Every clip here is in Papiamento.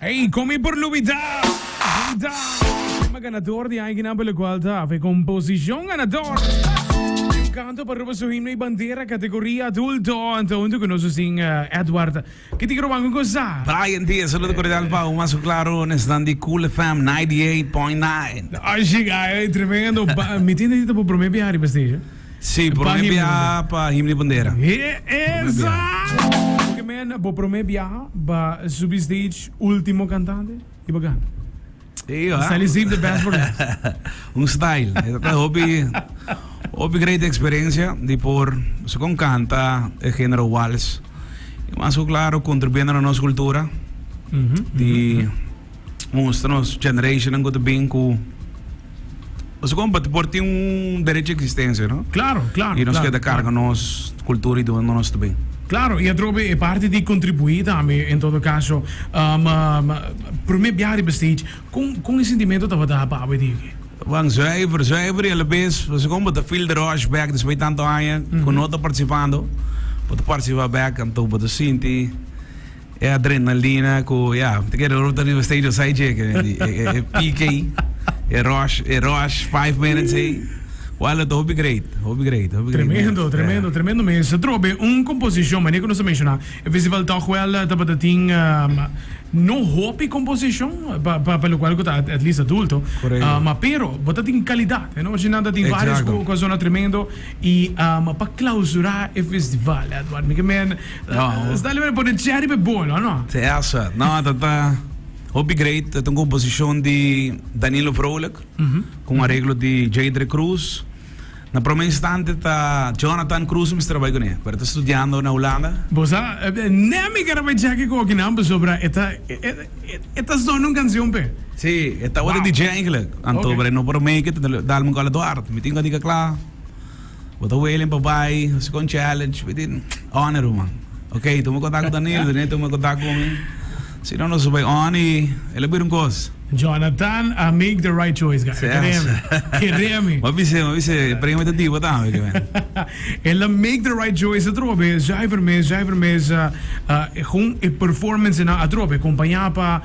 Ey, con mi por lubida, lubida. Tema ganador di Aiguinan por lo cual ta hafe composición ganador. Un canto pa roba su himno y bandera categoría adulto. Anta junto con nos sin eh, Edward. Que te quiero banco cosa? Brian T, saludo cordial pa Uma su claro, nesnan di Cool FM 98.9. Así, ay, tremendo. Ba- Mi tiene dito por primer viaje arriba stage. Sí, prome biaha pa him di bandera. Hopi mena bo prome biaha ba subi stage ultimo cantante y ba gana. Ey Sali save the best for last. Un style. Esta hopi hopi great experiencia di por so con canta e género wals. Mas claro contribuyendo na nos cultura. Mm -hmm. Di mustra nos generationnan cu ta bin cu nos como pa por tin un derecho a existencia, no? Claro, claro. Y nos claro, queda carga claro. nos cultura y donde nos ta bin. Claro, y atrobe e parte di contribuí tambe, en todo caso. Um, um, primer biaha riba stage, con, con e sentimento tabata pa Awe Dieke? Wan zuiver, zuiver y a la vez, nos como ta feel the rush back después di tanto aña cu no ta participando, pa ta participar back, anto bo ta sinti. E adrenalina ku ya, mi ta kere ruta riba stadium sai djeke den e pike ei, e rush, e rush five minutes ei. Wou lo ta hopi great, hopi great, hopi great. Tremendo, tremendo, tremendo mes. Ta trobe be un komposishon, manera ku nos a menshona, e festival tòg wèl tabata tin no hopi komposishon pa pa lokual ku ta at least adulto, ma pero bo ta tin kalidat, e no ochi nada tin vários ku a sona tremendo i pa klausurá e festival Edward, mi ke men. Nos ta liber di pone tchè riba e bolo, no? Te asa. No, ta ta hopi great. Ta ta un composicion di Danilo Vrolijk, cu un areglo di Jadre Cruz. Na prome instante ta Jonathan Cruz mi mester ta bai cu ne, pero e ta studiando na Hulanda. Bo sa, ne ami ken a bai cheki cu oki nan pasobra e ta, e ta zona un cancion p'e. Si, e tabata DJ eigenlijk, anto, pero e no por make it, ta dal mi un call Eduard, mi tin cu a dica cla. Bo ta willing pa bai Second Challenge bitin Oni ruman Ok tuma kontak ku Danilo Danilo tuma kontak ku mi Si no nos a bai Oni el a bira un kos Jonathan a make the right choice guys Kere mi Kere mi Bo a bisa bo a bisa e premio ta diba tambe ke men El a make the right choice atrobe Jaifer mes Jaifer mes Gun e performance nan atrobe kompañá pa.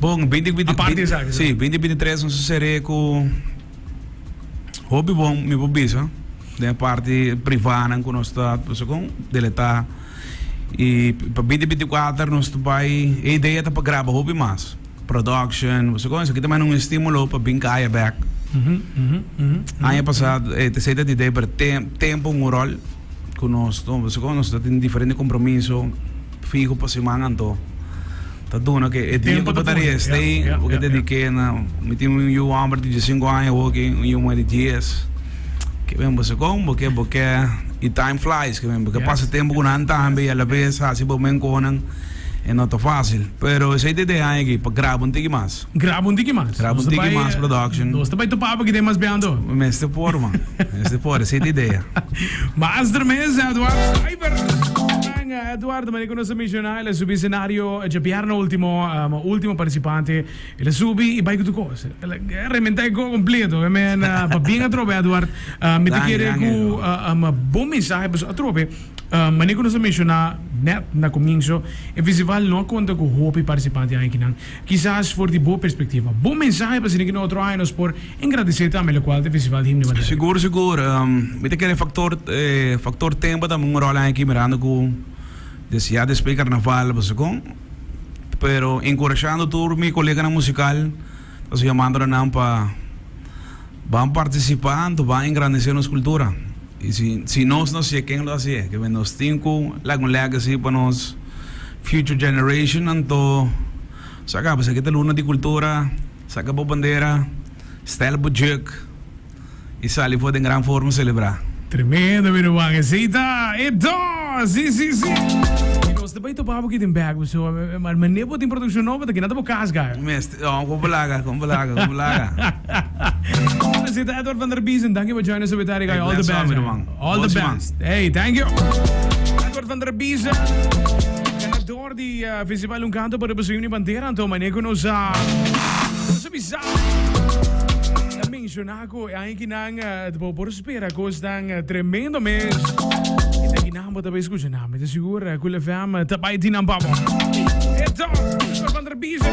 Bon, binti binti si, binti binti tres nos a ser'é ku hopi bon mi por bisa den e parti privánan ku nos ta pasobra kon deletá i pa binti binti kuater nos ta bai e idea ta pa graba hopi mas production pasobra kon esaki ta mai un estímulo pa bin kaya bèk aña pasá e t esei ta di Deiber tem tempu un ròl. cu nos no pasobra cu nos ta tin diferente compromiso fiho pa siman anto ta duna cu e dia cu bo ta riestay bo ta dedique na mi tin un yu homber di dies y cinco aña hopi un yu muher di dies ke wen bo segun bo ke bo ke y time flies ke wen bo ke pasa tempo cu nan tambe y alabes haci bo men conan y no ta facil pero esey ta idea ayi aki pa graba un tiki mas. Graba un tiki mas. Graba un tiki mas production. Nos ta bai topá pa kib'é mas biando. Mester por man. Mester por. Esei ta idea. Master mes Edward Stuyver. Manga Edward, manera ku nos a menshona, el a subi senario dje bièrnè ultimo, ma ultimo partisipante el a subi i bai ku tur kos. El a rementá e kò kompleto. E men pabien atrobe Edward. Mi ta kere ku un bon mensahe pasobra atrobe, manera ku nos a menshoná nèt na komienso, e festival no a konta ku hopi partisipantenan. Kisas for di bo perspektiva, bo mensahe pa sinigi na otro aña nos por engradesé tambe lokual ta e Festival di Himno Bateraki. Sigur, sigur. Mi ta kere faktor faktor tempu tambe un ròl aña aki mirando ku desde ya despues di karnaval pasobkon. Pero enkurashando tur mi koleganan musikal ta su yamando na nan pa ban partisipá anto ban engrandesé nos kultura. Y si si nos no sié ken lo a sié? Ke nos tin ku laga un legacy pa nos future generation anto saca pues aki ta luna di cultura, saca bo bandera, stel bo juk y sali for den gran forma celebra. Tremendo mi ruman esita e dor si si si. Y nos ta bay topa bo aki den Back Pasoa, mane bo tin produccion nobo ta kina ta bo cas gar. Con cu blaga, con blaga, con blaga. Presidente Edward van der Biesen, dankie for joining us with Eric. All the best, man. All the best. Hey, thank you. Edward van der Biesen, ganador di uh, Festival Un Canto para Busuim ni Bandera, anto mane ku nos a... Nos a bisa. Na menciona ku ay ki nan uh, por spera kos dan uh, tremendo mes. Kita ki nan bota escucha na, me te segura ku le fam tabai di nan babo. Eto, Edward van der Biesen.